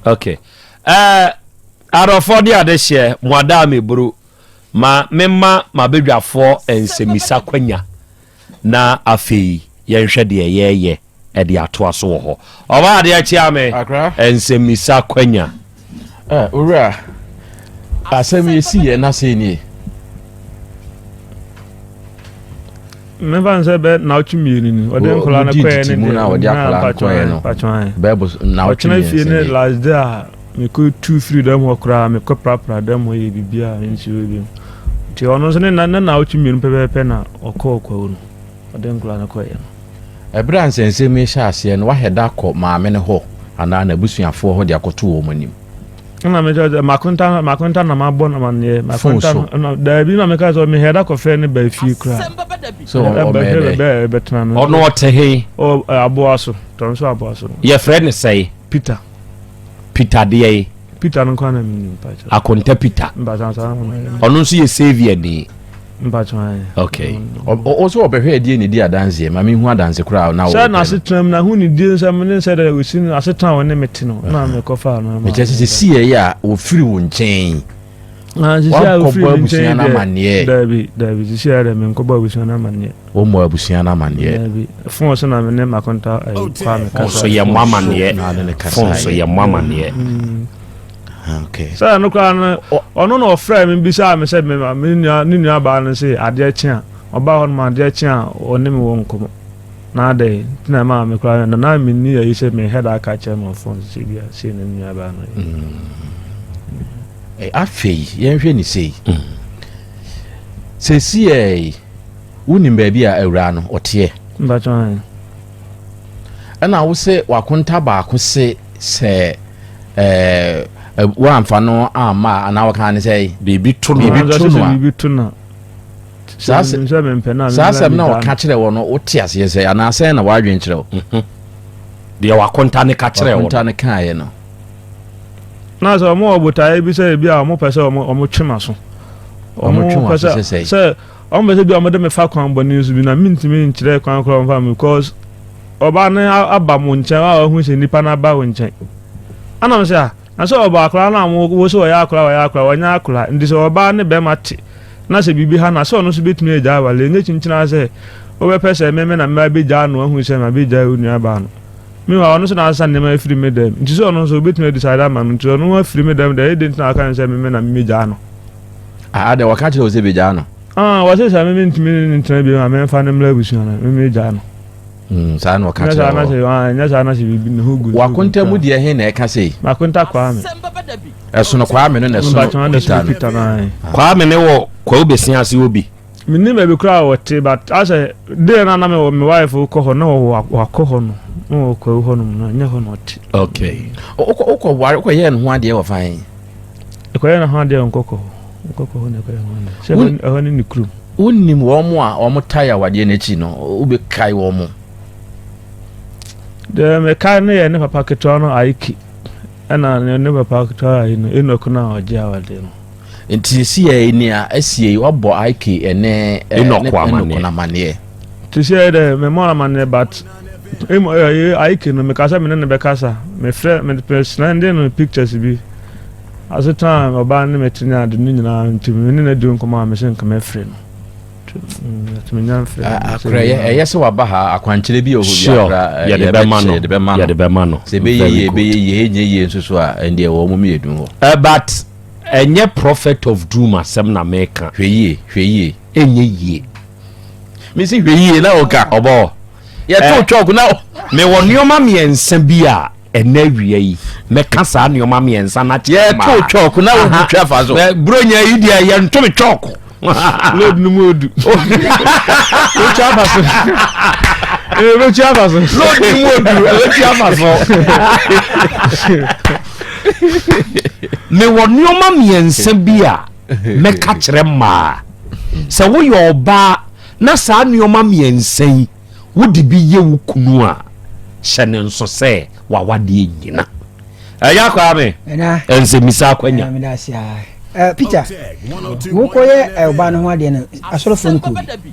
[SPEAKER 2] Okay. Uh, arɔfoɔ de ade hyɛ mo adaa me buru ma mema mabadwafoɔ nsɛmmisa kwanya na afei yɛnhwɛ deɛ yɛyɛ de atoa so wɔ hɔ. Ɔbaa adeɛ kyea me nsɛmmisa kwanya. Owura,
[SPEAKER 4] asɛm yi si yɛ na sɛ nie.
[SPEAKER 3] Mmefa no sɛ bɛ naɔtwe mmienu ni. Ɔde nkɔla no kɔɛ ne deɛ. Na ɔde akɔla
[SPEAKER 4] no kɔɛ no. Bɛɛbo naɔtwe mmiɛnsa ni. Ɔtena fie ne last day a
[SPEAKER 3] mekɔ tu firi dɛm hɔ koraa mekɔ prapra dɛm hɔ yɛ biribi a nsuo bi. Nti ɔno nso ne na naɔtwe mmienu pɛpɛɛpɛ na ɔkɔɔ kwawu no. Ɔde nkwadaa no kɔeɛ no, ɛberɛ a nsɛnsɛm yi
[SPEAKER 4] hyɛ aseɛ no, wahɛda akɔ maame no hɔ anaa n'abusuafoɔ hɔ de akɔto wɔn anim. Ɛna mekyerɛ
[SPEAKER 3] sɛ makonta makonta na mabɔ no amaneɛ makonta no daabi na meka sɛ mehɛda kɔfrɛ ne baa fie koraa sɛ
[SPEAKER 4] ɔbɛtena no ɔno
[SPEAKER 3] ɔte he
[SPEAKER 2] aboa
[SPEAKER 3] so tɔn so aboa so yɛfrɛ ne sɛe
[SPEAKER 2] Peter peter deɛ yi. peter no kwan na mi
[SPEAKER 3] nim mpatsɔ. akonta peter. mpatsɔ
[SPEAKER 2] ansa na ɔmo ayɛ.
[SPEAKER 3] ɔno nso yɛ
[SPEAKER 2] saviour ni. mpatsɔ ayɛ.
[SPEAKER 3] okay
[SPEAKER 2] ɔsɛ ɔbɛhwɛ
[SPEAKER 4] ɛdeɛ na edi adanseɛ maame hu adanse koraa na ɔwɔ. sɛ na asetena mu na hu
[SPEAKER 3] ne die nsɛm ne nsɛ dɛ osi no asetena wɔn ne me te no na mekɔ fa no. mekyɛ sɛ sɛ si yɛ yɛ a
[SPEAKER 4] wɔfiri wo nkyɛn.
[SPEAKER 3] wankɔbɔ abusua no amanneɛ
[SPEAKER 4] daabi daabi sisi ayɛ
[SPEAKER 3] dɛ menkɔbɔ abusua no amanneɛ wɔmmɔ abusua no
[SPEAKER 4] amanneɛ daabi fon so na
[SPEAKER 3] me ne makonta eh, oh, kwa me kasa so yɛ mmɔ amanneɛ
[SPEAKER 2] fon so yɛ mmɔ amanneɛ
[SPEAKER 4] mm. ah, okay sɛ no koraa
[SPEAKER 3] no ɔno na ɔfrɛ me bisaa me sɛ me nua ne nua baa no sɛ adeɛ kye a ɔbaa hɔ no ma adeɛ kye a ɔne me wɔ nkɔmmɔ na adɛn nti na ɛma me koraa na na me ni ayi sɛ me head aka kyerɛ me ɔfon sɛ bi a sei na me nua baa no eh,
[SPEAKER 4] afei yɛnhwɛ ne sei sɛsi ɛ wonim baabi a awuraa no ɔteɛ ɛna wo sɛ wakonta baako se sɛ eh, eh, woamfa no amma anaa wɔka ne sɛ biribi
[SPEAKER 2] to no
[SPEAKER 4] Saa asɛm no a ɔka kyerɛ wɔ no, wote aseɛ sɛ anaa sɛn na w'adwene kyerɛ wo? Mhm. Deɛ
[SPEAKER 2] wakonta ne ka kyerɛ wɔ no. Wakonta ne kaeɛ no.
[SPEAKER 3] Na sɛ wɔn wɔ botaeɛ bi sɛ ebi a wɔn pɛ sɛ wɔn twe ma so. Wɔn twe wɔn ase
[SPEAKER 4] sɛ sɛ wɔn pɛ sɛ bi
[SPEAKER 3] a wɔn de me fa kwan bɔne so bi na mintumi nkyerɛ kwan koraa wɔn fa mi because ɔbaa no aba mo nkyɛn a ɔho sɛ nipa no aba wo nkyɛn. Anam sɛ a na sɛ ɔbaa koraa na wɔn wo sɛ wɔyɛ akoraa wɔyɛ akoraa wɔnyɛ akoraa nti sɛ ɔbaa ne bɛrima te. na sɛ biribi ha no a, sɛ ɔno nso bɛtumi agyae aware. Ɛnyɛ kyinkyin ara sɛ wobɛpɛ sɛ me me na mabɛgyaa no ahu sɛ mabɛgyae wo nuabaa no. Meanwhile, ɔno nso na asesa nneɛma afiri me dɛm, nti sɛ ɔno nso wobɛtumi adecide ama no, nti ɔno afiri me dɛm deɛ, ɛyɛ dɛn nti na waka no sɛ me me na memɛgyaa no? Ah, adɛn,
[SPEAKER 4] wɔka kyerɛ wo sɛ bɛgyaa no? Ah, wɔse sɛ me
[SPEAKER 3] mentumi ne no ntena biom a, memfa no mmra abusua no, memɛgyaa no. Mm, saa na
[SPEAKER 4] ɔka kyerɛ hɔ nyɛ saa na sɛ
[SPEAKER 3] biribi me ho gu wakonta mu deɛ he na ɛka
[SPEAKER 4] sei makonta kwaa me
[SPEAKER 3] ɛsono kwaa
[SPEAKER 4] me no na ɛsono peter no
[SPEAKER 3] kwaa me ne wɔ
[SPEAKER 2] kwaa wobɛsia ase wɔ bi menim baabi koraa
[SPEAKER 3] wɔte but asɛ deɛ no ana mewɔ me wife wokɔ hɔ na wakɔ hɔ no na wɔkwawu hɔ nom no ɛnyɛ hɔ na ɔte okay
[SPEAKER 2] wokɔ ware
[SPEAKER 4] wokɔyɛɛ no ho adeɛ wɔ fan Ɛkɔyɛ ne
[SPEAKER 3] ho adeɛ wɔ nkɔkɔ hɔ. Nkɔkɔ hɔ na ɛkɔyɛ ho adeɛ. Sɛ Won- ɛhɔ ne ne kurom. wonim wɔn mo a
[SPEAKER 4] wɔn tae awadeɛ no akyi no wobɛkae wɔn mo
[SPEAKER 3] Deɛ mekae no yɛ ne papa ketewa no Aiki ɛna ne- ne papa ketewa ayi no Enoch no a ɔgye awadeɛ no. nti sisi yɛ
[SPEAKER 4] nea asie yi wabɔ ike ɛne eh, Enoch ne- amanneɛ. Enoch no
[SPEAKER 2] amanneɛ
[SPEAKER 4] Te sɛ dɛ
[SPEAKER 3] memmɔ no amanneɛ but Emu ɛyɛ eh, eh, Aiki no meka sɛ me ne no bɛkasa mefrɛ mesrɛnde no pictures bi ase taa ɔbaa ne mɛtene ade no nyinaa nti me ne no adi nkɔmmɔ a mese nka mɛfrɛ no ɛyɛ sɛ
[SPEAKER 4] waba ha akwankyerɛ bi ɔhɔyɛde
[SPEAKER 2] bɛma no sɛ bɛyɛ yie bɛyɛ
[SPEAKER 4] yie ɛnyɛ yie nso so a ɛndeɛ wɔ mom yɛ dum hɔ but
[SPEAKER 2] ɛnyɛ prophet of doom asɛm na meka hwɛ yie hwɛ yie
[SPEAKER 4] ɛnyɛ yie
[SPEAKER 2] mesi
[SPEAKER 4] hwɛ yie na ɔka ɔbɔ hɔ
[SPEAKER 2] yɛto eh. chalk
[SPEAKER 4] na mewɔ nneɛma
[SPEAKER 2] mmiɛnsa bi a ɛnɛ awia yi mɛka saa nneɛma mmiɛnsa na kyerɛ ma yɛto chalk na
[SPEAKER 4] obi twa fa so buronya yi deɛ
[SPEAKER 2] yɛnto me chalk load no
[SPEAKER 3] mu odu wotwa fa so wotwa fa so load no mu odu
[SPEAKER 2] wotwa fa so mewɔ nneɛma mmiɛnsa bi a mɛka kyerɛ maa Sɛ woyɛ ɔbaa na saa nneɛma mmiɛnsa yi wode bi yɛ wo kunu a, hyɛ ne nso sɛ w'awadeɛ nyina. Ɛyɛ akwaa me nsɛmmisa akwanya.
[SPEAKER 5] Peter, wokɔyɛ ɔbaa no ho adeɛ no, asɔrɔfoɔ no kuro bi.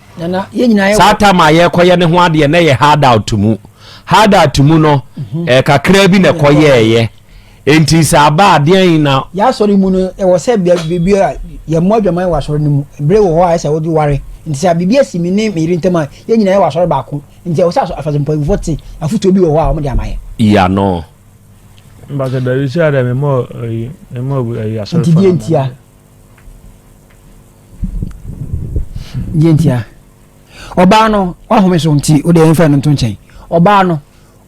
[SPEAKER 5] saa tam a yɛkɔyɛ ne ho
[SPEAKER 2] adeɛ na yɛ hard out mu hard out mu no mhm. eh, kakra bi na ɛkɔ yɛɛyɛ nti sɛ aba adeɛ yi na. yasɔre mu no
[SPEAKER 5] ɛwɔ sɛ biribi a yɛn mu adwaman wɔ asɔre no mu ebire wɔ hɔ a ɛsɛ wɔde ware nti sɛ biribi asi mi ne mi yiri ntɛm a yɛn nyinaa yɛ wɔ asɔre baako nti ɛwɔ sɛ afasɛ mpanyinfoɔ te afutuo bi wɔ hɔ a wɔn de ama yɛ. yano.
[SPEAKER 2] mbàtɛ
[SPEAKER 3] bɛbi sɛ ɛdɛ mi mɔ ɛyi mi mɔ ɛyi asɔre fana. nti diɛ ntia.
[SPEAKER 5] deɛ ntia ɔbaa no wahome so nti wode ɛmfa no nto nkyɛn ɔbaa no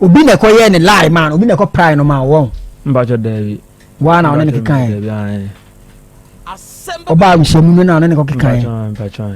[SPEAKER 5] obi na ɛkɔyɛ ne lie maa no obi na ɛkɔ prae no maa wɔn mbakyɛ daabi
[SPEAKER 3] waa na ɔne ne
[SPEAKER 5] kekaeɛ ɔbaa abusuamu no na ɔne ne kɔkekaeɛ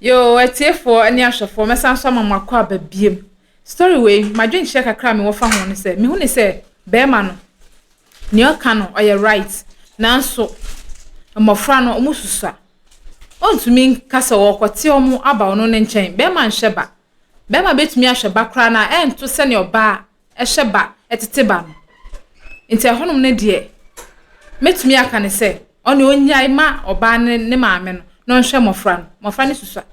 [SPEAKER 3] Yoo
[SPEAKER 1] atiefoɔ ne ahwɛfoɔ mɛsan so ama mo akɔ aba biem. Story wei m'adwenkyerɛ kakra a mewɔ fa ho ne sɛ mehu ne sɛ bɛrima no nea ɔka no ɔyɛ right nanso mmɔfra no ɔmo susua. Ɔntumi nka sɛ ɔrekɔte ɔmo aba ɔno ne nkyɛn. Bɛrima nhwɛ ba. Bɛrima bɛtumi ahwɛ ba koraa na ɛnto sɛnea ɔbaa hyɛ ba, ɛtete ba no. Nti ɛhɔnom no deɛ, mɛtumi aka no sɛ, ɔne ɔnyae ma ɔbaa no ne maame no na ɔnhwɛ mmɔfra no. Mmɔfra no susua.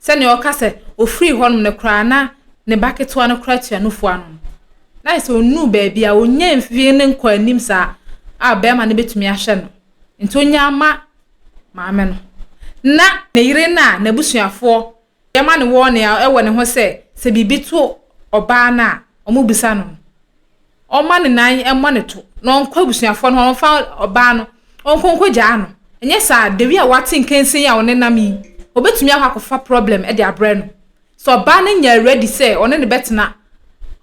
[SPEAKER 1] Sɛnea ɔka sɛ, ɔfirii hɔnom no koraa na ne ba ketewa no koraa tua nufoɔ ano no, na ayɛ sɛ ɔnnuu baabi a, ɔnyaa mfie no nkɔɔ anim saa a barima no bɛtumi ahwɛ no. Nti ɔnyaa ma maame no. Na ne yere no a n'abusuafoɔ Yɛma no wɔɔne a ɛwɔ ne ho sɛ, sɛ biribi to ɔbaa no a, wɔbisa no no, ɔmma ne nan mmɔ ne to, na ɔnkɔ abusuafoɔ no hɔ, ɔmfa ɔbaa no, ɔnkɔ nkɔgyaa no. Ɛnyɛ saa, da wi a wate nkansi yi a ɔnenam yi, ɔbɛtumi akɔ akɔfa problem de abrɛ no. Sɛ ɔbaa no nyɛ ready sɛ ɔne no bɛtena,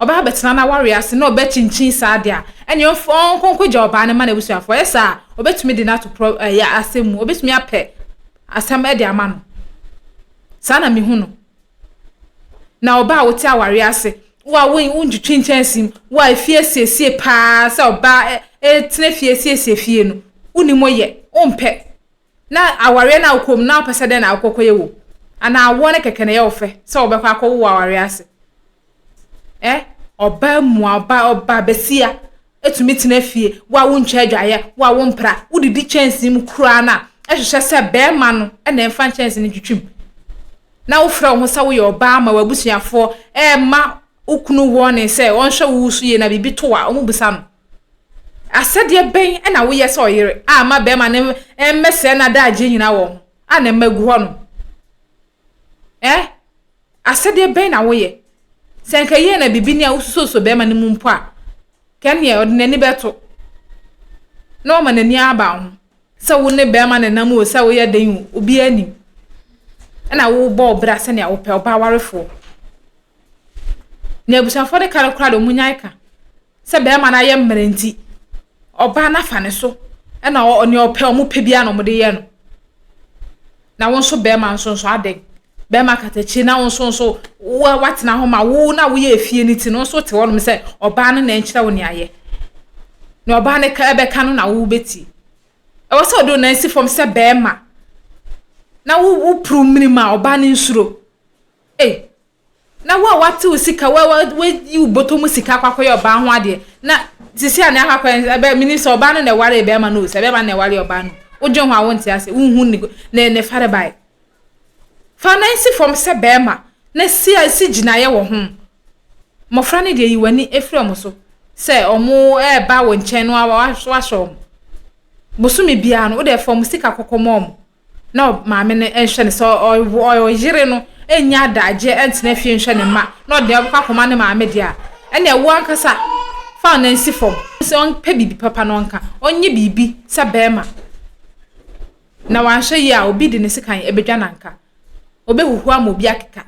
[SPEAKER 1] ɔbɛba abɛtena n'awareɛ ase na ɔbɛkyinkyin saa deɛ a, ɛnneɛ ɔmfa, ɔnkɔ nkɔgya ɔbaa no mma n'abusuafoɔ. Ɛyɛ saa a, ɔbɛtumi de no ato pro, ɛyɛ asɛm mu, ɔbɛtumi apɛ asɛm de ama no. Saa na mehu no. Na ɔbaa a wote awareɛ ase, wo a wontwitwi nkyɛnsee mu, wo a efie asiesie paa sɛ ɔbaa tena fie asiesie fie no, wonim mo yɛ, wompɛ. Na awareɛ no a wokɔ mu na wopɛ sɛ dɛn na wokɔkɔyɛ wɔ mu? Anaa awoɔ no kɛkɛ na ɛyɛ wo fɛ sɛ wobɛkɔ akɔwo wɔ awareɛ ase? Ɛ, ɔbaa mua, ɔbaa, ɔbaa basia, tumi tena fie, wo a wontwa adwaeɛ, wo a wompra, wodidi kyɛnsee mu koraa no a, ɛhwehwɛ sɛ barima no na ɛmfa nkyɛnsee no ntwitwim. Na wofrɛ wo ho sɛ woyɛ ɔbaa ma w'abusuafoɔ ɛrema wo kunu wɔɔne sɛ ɔnhwɛ wo so yie na biribi to a, wɔbisa no. Asɛdeɛ bɛn na woyɛ sɛ ɔyere a ama barima no mmɛsɛe n'adagyeɛ nyinaa wɔ ho a na mma agu hɔ no? Ɛ? Asɛdeɛ bɛn na woyɛ? Sɛ nka yie na biribi ni a wosusuosuo bɛrima no mu mpo a, ka neɛ ɔde n'ani bɛto na ɔma n'ani aba ho sɛ wo ne bɛrima no nam o, sɛ woyɛ den o, obiara nim. Ɛna wobɔ wo bra sɛnea wopɛ, ɔbaa warefoɔ. Na abusuafoɔ de ka no koraa de, wɔn nyae ka. Sɛ bɛɛma no ayɛ mmerɛ nti, ɔbaa no afa ne so na ɔ nea ɔpɛ ɔmo pɛ biara na ɔmo de yɛ no. Na wo nso bɛɛma nso nso adɛn? Bɛɛma katakyire na wo nso nso wo watena ho ma wo na woyɛ efie no ti no nso te hɔnom sɛ ɔbaa no na ɛnkyerɛ wo nea yɛ. Nea ɔbaa no ka ɛbɛka no na wo bɛtie. Ɛwɔ sɛ ɔde onan si fam sɛ bɛɛma na wo wo puru mmiri mu a ɔbaa no nsuro. Ei! Na wo a woate wo sika, wo a woayi wo bɔtɔ mu sika akɔ akɔyɛ ɔbaa ho adeɛ, na sisi a na akɔ akɔyɛ no, ɛbɛ menim sɛ ɔbaa no na ɛwaree bɛrima no o, sɛ bɛrima no na ɛwaree ɔbaa no, wodwen ho a wonte ase, wonhu ne ne ne farebae. Fa nan si fam sɛ bɛrima, na si si gyinaeɛ wɔ ho. Mmɔfra no deɛ yi w'ani firi wɔn so sɛ wɔn ɛreba wo nkyɛn no wahyɛ wɔn. Bosome biara no, wode fa wɔn sika kɔkɔma wɔn. na maame no nhwɛ no sɛ ɔyere no nyɛ adagyeɛ ntena fie nhwɛ ne mma na ɔde ɔbɛkɔ akɔma ne maame deɛ a ɛnna ɛwoɔ ankasa fa ɔno nsi fam sɛ ɔmpɛ biribi papa na ɔnka ɔnyɛ biribi sɛ bɛrima na wanhwɛ yie a obi de ne sekan ɛbɛdwa nanka ɔbɛhuhu ama obi akeka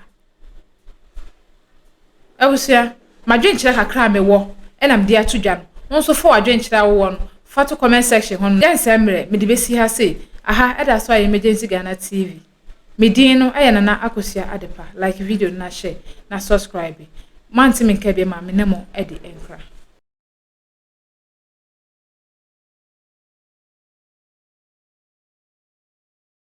[SPEAKER 1] Abusua, m'adwenkyerɛ kakra a mewɔ na mede ato dwa no, wo nso fa w'adwenkyerɛ a wowɔ no fa to comment section hɔ no. Yɛnsɛe mmerɛ, mede bɛsi ha sei, aha ɛda so ayɛ Emergency Ghana TV. Me din no yɛ Nana Akosua Adepa, like video no na share, na subscribe. Moante me nka biam a, me ne mo adi nkra.